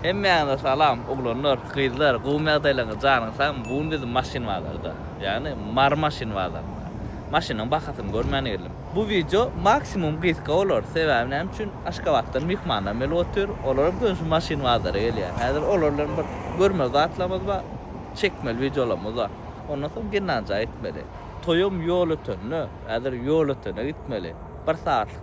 Hemmäňize salam oglanlar gyzlar gowy mýagdaýlaryňyz janyň sagmy bu gün biz maşyn bazarda ýagny mary maşyn bazarynda maşynyň bahasyny görmäne geldim bu wideo maksimum gysga bolar sebäbi näme üçin aşgabatdan myhmanlarym gelip otyr olaram köne şu maşyn bazara gelýär häzir olar bilen bir görmeli zatlarymyz bar çekmeli wideolarymyz bar ondan soň gennanjaga gitmeli toýam ýol ötende häzir ýol ötene gitmeli bir sagatlyk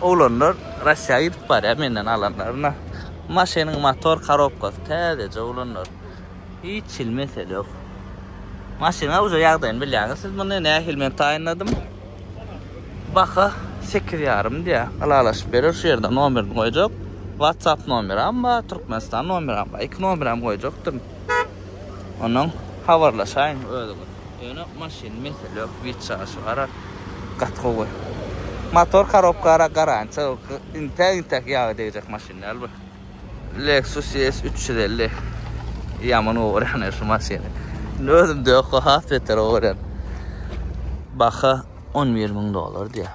Oglanlar Russiýa gidip barýar menden alanlaryna. Maşynyň motor karobkasy täzeje oglanlar. Hiç hili mesele ýok. Maşyna uje ýagdaýyny bilýäňiz siz muny nähili men taýynladym. Baha sekiz ýarym diýýä. Ylalaşyp berer şu ýerde nomerini goýjak. WhatsApp nomeram bar, Türkmenistan nomeram bar. Iki nomeram goýjakdym. Ondan habarlaşaýyň özüňiz. Ýöne maşyn mesele ýok, wid çaşy gara gaty gowy. Motor korobka gara garantiýa ýok. Intäk intäk ýaga degjek maşyn däl bu. Lexus ES 350. Ýaman gowy görýän şu maşyny. Indi özüm de ýok, has beter gowy görýän. Baha 11 müň dollar diýýär.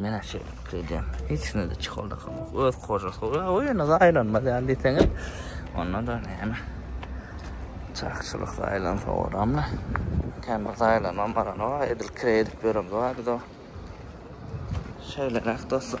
Menä şeýlelikde edýän. Hiç kimde-de çikoldakam ýok. Öz kojasy goýýar. Hawa, ýöne zaýalanmaz ýaly diýseňiz. Onda-da näme. Çakçylyk zaýalansa olam-la. Kän bir zaýalanan baran bar. Edil kireý edip ýören bardy-da. Şeýleräk dostlar.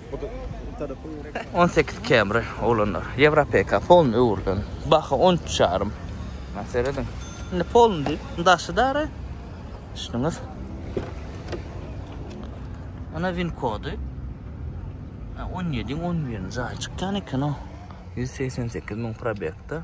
On sekiz Camry oglanlar. Ýewropeka polny öwrülen. Baha on üç ýarym. Mana serediň. Indi polny diýip, daşy dary. Düşdüňiz? Ana win kody. Ha, 17 11 jaý çykýan eken o. 188 müň probekda.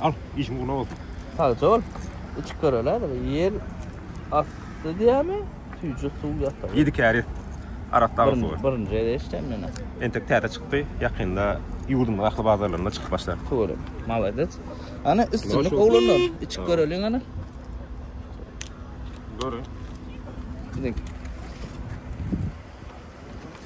Al, işin uğruna olsun. Sagja ol. Uçup görölädir. Yer astı diýämi? Tüýje suw ýatar. Ýedi käri Arakdagy suwy. Birinji, birinji ýerde eşitýän men. Entek täze çykdy. Ýakynda ýurdumyň ähli bazarlarynda çykyp başlar. Köwrek. Malades. Ana üstünlik oglanlar. Içip göreliň ana. Görün. Gidiň.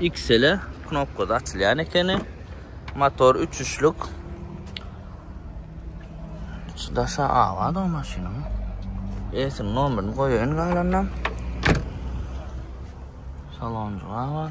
Xl-e knopkasy açylýan ekeni. Motor üçüşlik. Şu daşa awa da maşynyň. Esin nomerini goýaýyn galanam. Salonjy awa.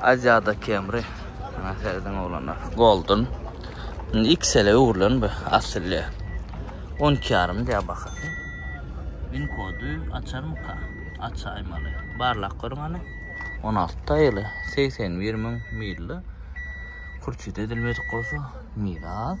Aziada Camry Maňa serediň oglanlar. Golden. Indi XL-e öwrülen bu asylly. On iki ýarym diýýär bahasy. Win kody açarmyka? Açaýmaly. Barlap görüň hany. On alty taýly. Segsen bir müň milli. Kurçit edilmedik bolsa. Mil az.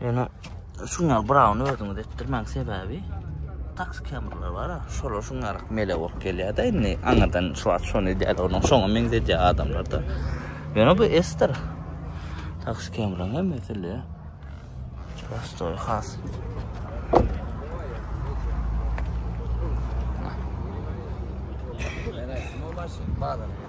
Ýöne şuňa Brown özüňiz etdirmäň sebäbi tax kameralar bar. Şolar şuňa rak mele bolup gelýär-de indi aňyrdan şu wagt şony edýär onuň şoňa meňzedýär adamlarda. Ýöne bu esdir. Tax kameraň hem mesele. Prostoy has. Bye bye.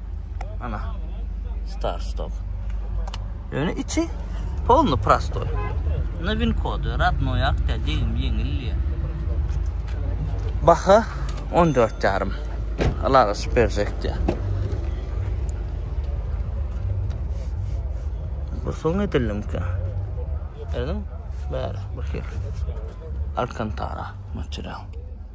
Ana. Star Stock. Ýöne içi polny prostoy. Na win kod, radno ýak da degim ýeňil ýa. Baha 14 ýarym. Alara superjek diýä. Bu soň edildim ki. Edin? Bär, bu hir. Alcantara, material.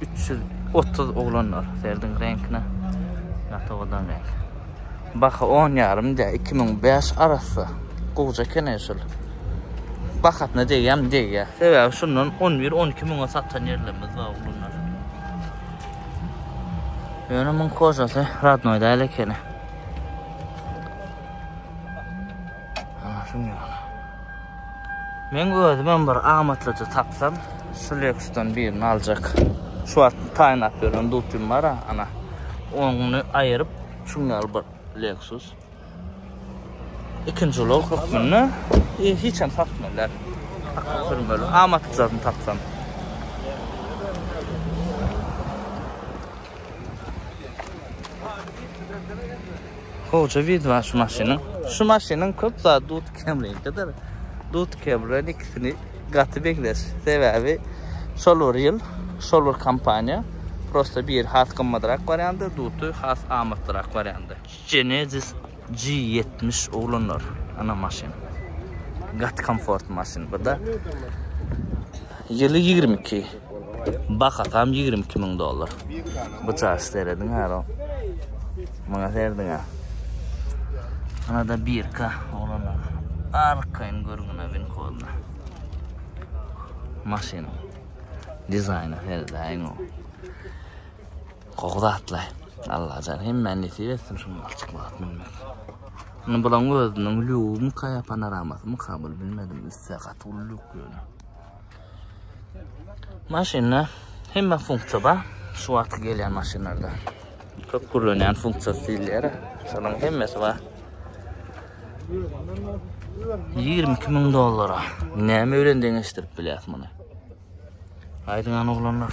330 oglanlar serdiň reňkine ýatawadan reňk. Baha 10 ýarym diýä 2005 arassa. Gowja kene şul. Bahasyna degýämi degýä. Sebäbi şundan 11-12 müňe satan ýerlerimiz bar oglanlar. Ýöne muň kožasy radnoý däl ekeni. Ana şuny ýaly. Men özümem bir amatlyja tapsam, şu Lexusdan birini aljak. Şu wagt taýynlap ýören dutym bar, ana. Ony aýyryp, şuň ýaly bir Lexus. Ikinji ulag hökmünde e, hiç hem satmalar. Akıl sürmeli. Amatlyjasyny tapsam. Hoca vid var şu maşynyň. Şu maşynyň köp zat dut kemligidir. Dut kemren ikisini gaty meňzeş. Sebäbi şol bir ýyl, şol bir kompaniýa prosta bir has gymmadrak barýandy, duty has amatlyrak barýandy. Genesis G ýetmiş oglanlar ana maşyn gaty komfort maşyn buda ýyly ýigrimi iki bahasam ýigrimi iki müň dollar bu çaş serediň ara muňa serediň a ana da birka oglanlar arkaýyn görgüne bin koduna maşynyň dizaýny seredäýiň o Gowy zatly. Allajan hemmä nesip etsin şu malçyk bagyt münmek. Muny bulaň özüniň lügümi kaýa panoramasy kabul bilmedim üsse gaty uly lük ýöne. Maşynda hemme funksiýa bar. Şu wagtky gelýän maşynlarda. Köp gürlenýän funksiýa diýilýär. Şonuň hemmesi bar. 22 ming dollara. Näme bilen deňeşdirip bilýäs muny? Aýdyňan oglanlar.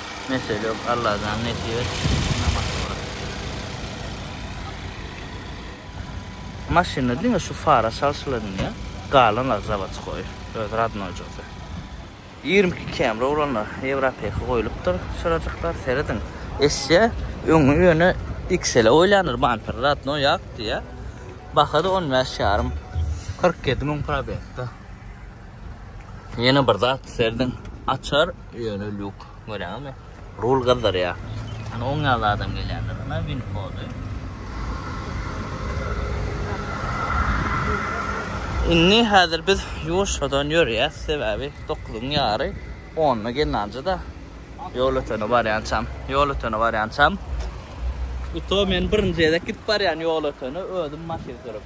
Mesele yok Allajan nesip etsin namaz ola. Maşynda diňe şu fara çalşyladym diýýä, galanlary zawodskoý, öz radnoýjysy. Ýigrimi iki Camry bolanlar Ýewropeka goýlupdyr çyrajyklar, serediň. Eşya öňi ýöne XL-e goýlandyr bamper radnoý ak diýýä. Baha-da on bäş ýarym, kyrk ýedi müň probegda. Ýene bir zat serediň, açar Ýöne lýuk. Görýäňizmi? Rul gyzdyrýar. Ana oň ýaly adam gelýändir. Ana win kody. Indi häzir biz ýuwaşjadan ýörýäs, sebäbi dokuzyň ýary, onda gelnanja-da ýol ötene barýançam, ýol ötene barýançam. Uto men birinji gezek gidip barýan ýol ötene özüm maşyn sürüp.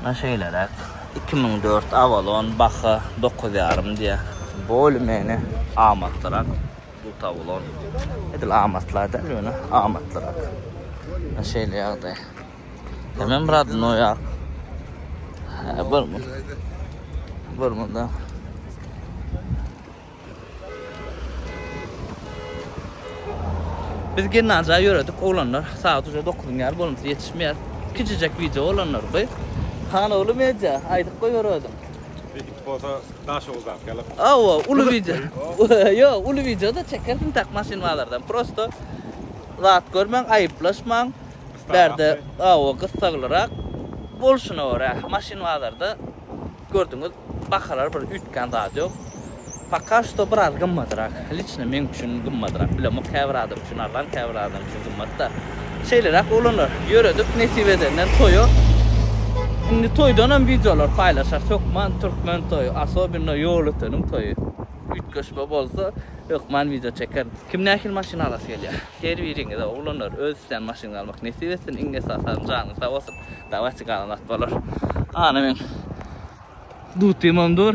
Muna şeýleräk. Iki müň dört Avalon baha dokuz ýarym diýýär. Bolymeni amatlyrak bu tawlon. Edil amatla däl ýöne amatlyrak. Muna şeýle ýagdaý. Hemem radnoýak. Hä bir munda. Biz gimnaziýa ýöredik oglanlar sagat uje dokuzyň ýary bolmasa ýetişmeýär. Kiçijek wideo oglanlar goý. Hanogly media aýdyp goý bir özüň. Edip bolsa Daşoguzdaky ýaly. Hawa uly wideo. Ýok uly wideoda çekersiň tak maşyn bazardan prosto zat görmäň aýyplaşmaň. Bärde hawa gyssaglyrak bolşuna görä maşyn bazarda. Gördüňiz, bahalar bir üýtgän zat ýok. Poka şto biraz gymmadyrak. Liçno meň üçin gymmadyrak. Bilemok käbir adam üçin arzan, käbir adam üçin gymmat-da. Şeýleräk oglanlar, ýöredik nesip edenden toýa. Indi toýdanam wideolar paýlaşarys. Hökman türkmen toýy, asobinno ýolöteniň toýy. Üýtgeşme bolsa, hökman wideo çekerin. Kim nähili maşyn alasy gelýär? Her biriňize oglanlar öz islän maşynyňyzy almak nesip etsin iň esasanam janyňyz sag bolsun dawatçy galan wagt bolar. Ana meň dutymam dur.